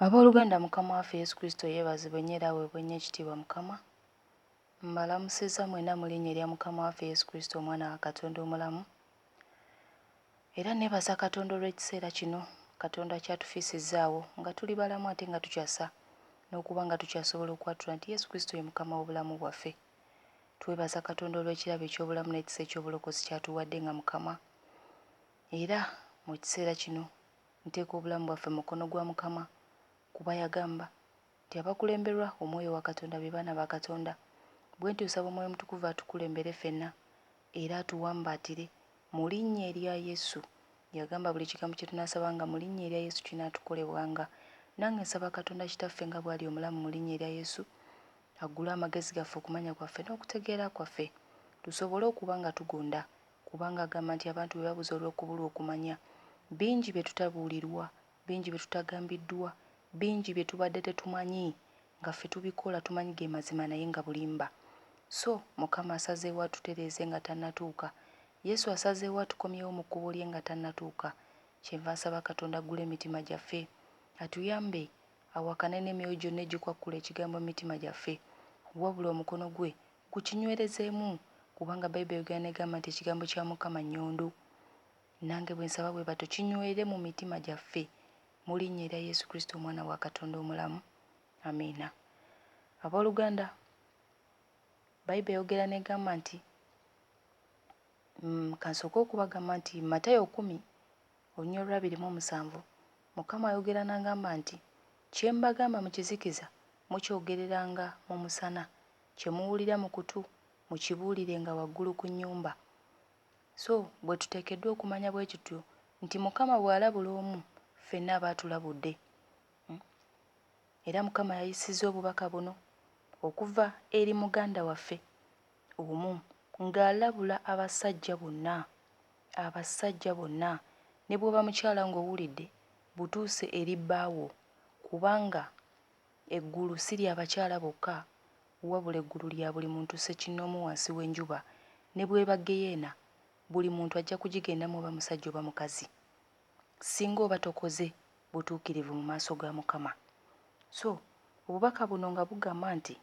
Abooluganda Mukama waffe Yesu Kristo yeebazibwe nnyo era aweebwe nnyo ekitiibwa Mukama. Mbalamusizza mwenna mu linnya erya Mukama waffe Yesu Kristo Omwana wa Katonda omulamu. Era nneebaza Katonda olw'ekiseera kino Katonda ky'atufiisizzaawo nga tuli balamu ate nga tukyasa n'okuba nga tukyasobola okwatula nti Yesu Kristo ye Mukama w'obulamu bwaffe. Twebaza Katonda olw'ekirabo eky'obulamu n'ekisa eky'obulokozi ky'atuwadde nga Mukama. Era mu kiseera kino Nteeka obulamu bwaffe mu mukono gwa Mukama kuba yagamba nti abakulemberwa omwoyo wa Katonda be baana ba Katonda. Bwentyo nsaba omwoyo omutukuvu atukulembere fenna era atuwambaatire mu linnya erya Yesu. Yagamba buli kigambo kye tunaasabanga mu linnya erya Yesu kinaatukolebwanga. Nange nsaba Katonda Kitaffe nga bwali omulamu mu linnya erya Yesu aggule amagezi gaffe, okumanya kwaffe n'okutegeera kwaffe tusobole okuba nga tugonda kubanga agamba nti abantu be babuze olw'okubulwa okumanya. Bingi bye tutabuulirwa, bingi bye tutagambiddwa, bingi bye tubadde tetumanyi nga ffe tubikola tumanyi ge mazima naye nga bulimba. So, Mukama asazeewo atutereeze nga tannatuuka. Yesu asazeewo atukomyewo mu kkubo lye nga tannatuuka. Kyenva nsaba Katonda aggule emitima gyaffe. Atuyambe, awakane n'emyoyo gyonna egikwakkula Ekigambo mu mitima gyaffe. Wabula, omukono gwe Ku kinywerezemu kubanga Bible eyogera negamba nti ekigambo kya Mukama nyondo. Nange bwensaba bwebatyo kinywere mu mitima gyaffe mu linnya erya Yesu Kristo omwana wa Katonda omulamu. Amiina. Aboluganda Bible eyogera negamba nti mm, kansooke okubagamba nti Matayo kumi olunya olwabiri mu omusanvu Mukama ayogera nangamba nti kyembagamba mu kizikiza mukyogereranga mu musana Kye muwulira mu kutu, mukibuulirenga waggulu ku nnyumba. So bwe tuteekeddwa okumanya bwe kityo nti Mukama bw'alabula omu, ffenna aba atulabudde. Era Mukama yayisizza obubaka buno okuva eri muganda waffe omu ng'alabula abasajja bonna. Abasajja bonna, ne bw'oba mukyala ng'owulidde, butuuse eri bbaawo, kubanga Eggulu si lya bakyala bokka, wabula eggulu lya buli muntu ssekinnoomu wansi w'enjuba, ne bw'eba ggeyeena, buli muntu ajja kugigendamu oba musajja oba mukazi, ssinga oba tokoze butuukirivu mu maaso ga Mukama. So, obubaka buno nga bugamba nti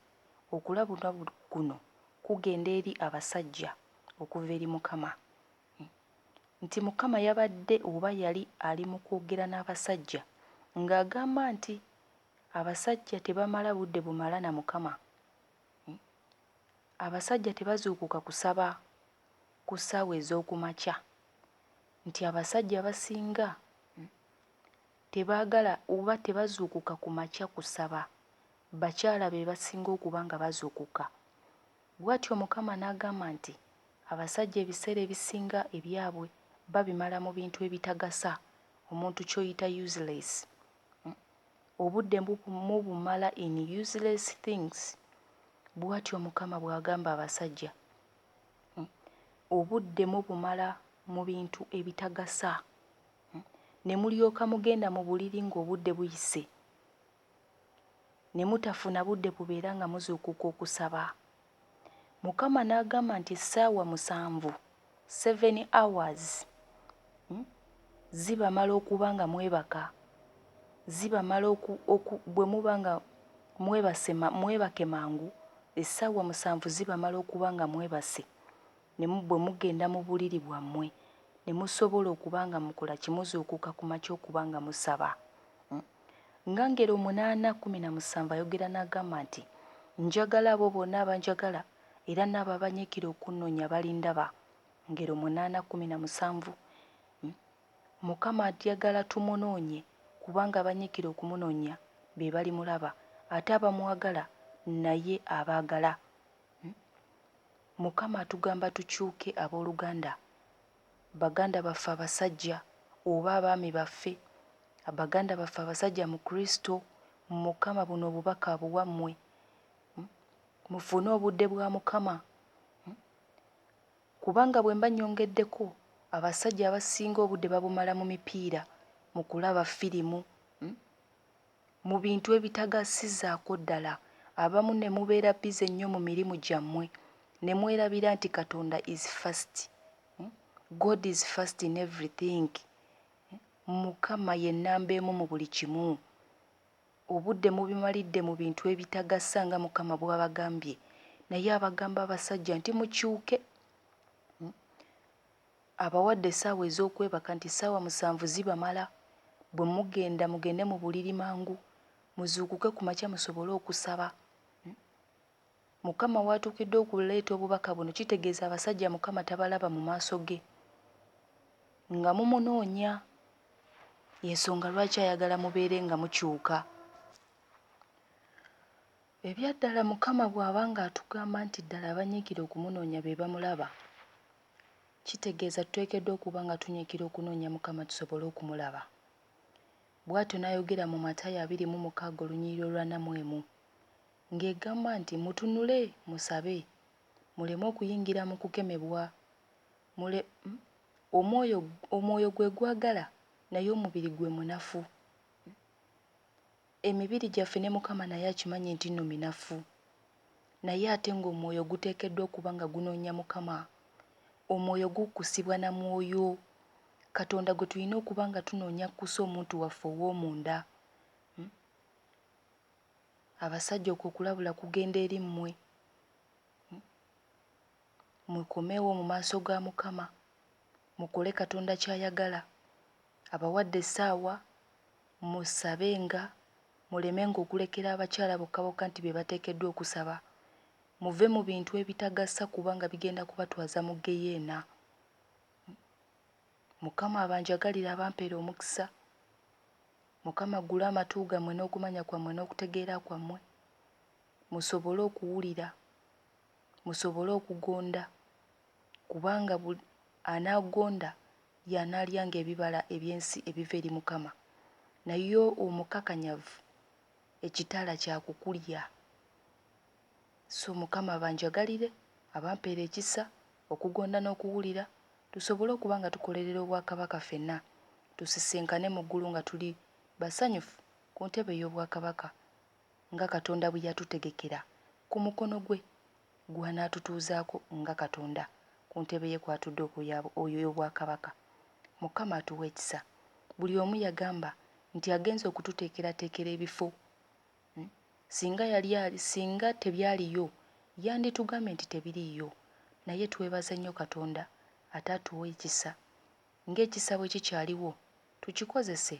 okulabula kuno kugenda eri abasajja okuva eri Mukama, nti Mukama yabadde oba yali ali mu kwogera n'abasajja, nga agamba nti. Abasajja tebamala budde bumala na Mukama. Abasajja tebazuukuka kusaba ku ssaawa ez'oku makya. Nti abasajja abasinga tebaagala oba tebazuukuka ku makya kusaba. Bakyala be basinga okuba nga bazuukuka. Bw'atyo Mukama n'agamba nti abasajja ebiseera ebisinga ebyabwe babimala mu bintu ebitagasa, omuntu ky'oyita useless. obudde mubumala in useless things bwatyo mukama bwagamba abasajja obudde mubumala mubintu ebitagasa nemulyoka mugenda mubuliri nga obudde buyise nemutafuna budde bubeera nga muzuukuka okusaba Mukama n'agamba nti essaawa musanvu, seven hours, hmm, zibamala okuba nga mwebaka, zibamala oku, oku, bwe muba nga mwebase, mwebake mangu, essaawa musanvu zibamala okuba nga mwebase, ne bwe mugenda mu buliri bwammwe, ne musobola okuba nga mukola ki, muzuukuka ku makya okuba nga musaba. Hmm. Nga ngero omunaana kkumi na musanvu ayogera n'agamba nti, Njagala abo bonna abanjagala, era n'abo abanyiikira okunnonya balindaba. Ngero munaana kkumi na musanvu. Mukama ayagala tumunoonye, kubanga abanyiikira okumunonya be balimulaba, ate abamwagala naye abaagala. Mukama atugamba tukyuke abooluganda, Baganda baffe abasajja oba abaami baffe, baganda baffe abasajja mu Kristo, mu Mukama, buno obubaka abuwa mmwe. Mufune obudde bwa Mukama. Kubanga bwe mba nnyongeddeko, abasajja abasinga obudde babumala mu mipiira, mu kulaba firimu, mu bintu ebitagasizaako ddala, abamu ne mubeera busy nnyo mu mirimu gyammwe ne mwerabira nti Katonda is first, God is first in everything, Mukama ye nnamba emu mu buli kimu. Obudde mubimalidde mu bintu ebitagasa nga Mukama bwabagambye, naye abagamba abasajja nti mukyuke. Abawadde essaawa ez'okwebaka nti ssaawa musanvu zibamala. Bwe mugenda mugende mu buliri mangu, muzuukuke ku makya musobole okusaba. Mukama w'atuukidde okuleeta obubaka buno kitegeeza abasajja Mukama tabalaba mu maaso ge nga mumunoonya. Y'ensonga lwaki ayagala mubeere nga mukyuka. Ebyaddala Mukama bw'aba ng'atugamba nti ddala abanyiikira okumunoonya be bamulaba, kitegeeza tuteekeddwa okuba nga tunyiikira okunoonya Mukama tusobole okumulaba. Bwatyo n'ayogera mu Matayo abiri mu mukaaga olunyiriri olw'ana mu emu, ng'egamba nti mutunule musabe, muleme okuyingira mu kukemebwa, mule, mm, omwoyo, omwoyo gwe gwagala naye omubiri gwe munafu. Emibiri gyaffe ne Mukama naye akimanyi nti nno minafu, naye ate nga omwoyo guteekeddwa okuba nga gunoonya Mukama. Omwoyo gukkusibwa na mwoyo. Katonda gwe tulina okuba nga tunoonya akkuse omuntu waffe ow'omunda. Hum. Abasajja okwo okulabula kugenda eri mmwe. Hum. Mukomeewo mu maaso ga Mukama, mukole Katonda ky'ayagala. Abawadde essaawa, Musabenga, mulemenga okulekera abakyala bokka bokka nti be bateekeddwa okusaba. Muve mu bintu ebitagasa kubanga bigenda kubatwaza mu ggeyeena. Mukama abanjagalire abampere omukisa. Mukama aggule amatu gammwe n'okumanya kwammwe n'okutegeera kwammwe musobole okuwulira, musobole okugonda kubanga Anaagonda y'anaalyanga ebibala eby'ensi ebiva eri Mukama, naye omukakanyavu ekitala kya kukulya. So Mukama abanjagalire, abampeere ekisa, okugonda n'okuwulira, tusobole okuba nga tukolerera obwakabaka fenna, tusisinkane mu ggulu nga tuli basanyufu ku ntebe ey'obwakabaka nga Katonda bwe yatutegekera ku mukono gwe gw'anaatutuuzaako nga Katonda ku ntebe ye kw'atudde oyo ey'obwakabaka. Mukama atuwa ekisa. Buli omu yagamba nti agenze okututeekerateekera ebifo. Singa yali ali, singa tebyaliyo, yanditugambye nti tebiriiyo. Naye twebaza nnyo Katonda ate atuwa ekisa. Ng'ekisa bwe kikyaliwo, tukikozese.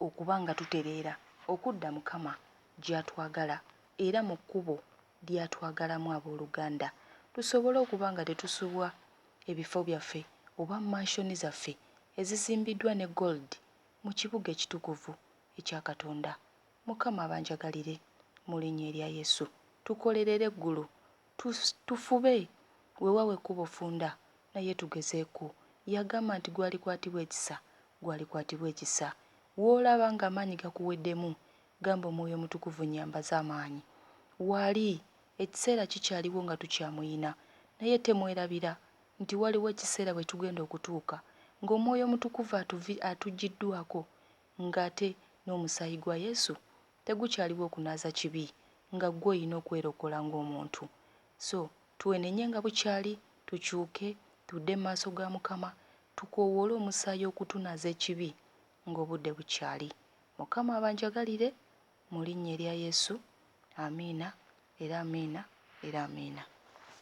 okuba nga tutereera okudda Mukama gy'atwagala era mu kkubo ly'atwagalamu ab'oluganda, tusobole okuba nga tetusubwa ebifo byaffe oba mansion zaffe ezizimbiddwa ne gold mu kibuga ekitukuvu ekya Katonda. Mukama abanjagalire mu linnya erya Yesu. Tukolerere eggulu, tu, tufube, wewawo ekkubo funda, naye tugezeeko. Yagamba nti gwalikwatibwa ekisa Gwe alikwatibwa ekisa. W'olaba ng'amaanyi gakuweddemu, gamba, Omwoyo Omutukuvu, nnyambaza amaanyi. Wali, ekiseera kikyaliwo nga tukyamuyina. Naye temwerabira, nti waliwo ekiseera we tugenda okutuuka, nga Omwoyo Omutukuvu atuvi, atuggyiddwako, nga ate n'Omusaayi gwa Yesu tegukyaliwo okunaaza kibi, nga ggwe olina okwerokola ng'omuntu. So, twenenye nga bukyali, tukyuke, tudde mu maaso ga Mukama, Tukoowoole omusaayi okutunaaza ekibi ng'obudde bukyali. Mukama abanjagalire mu linnya erya Yesu. Amiina era Amiina era Amiina.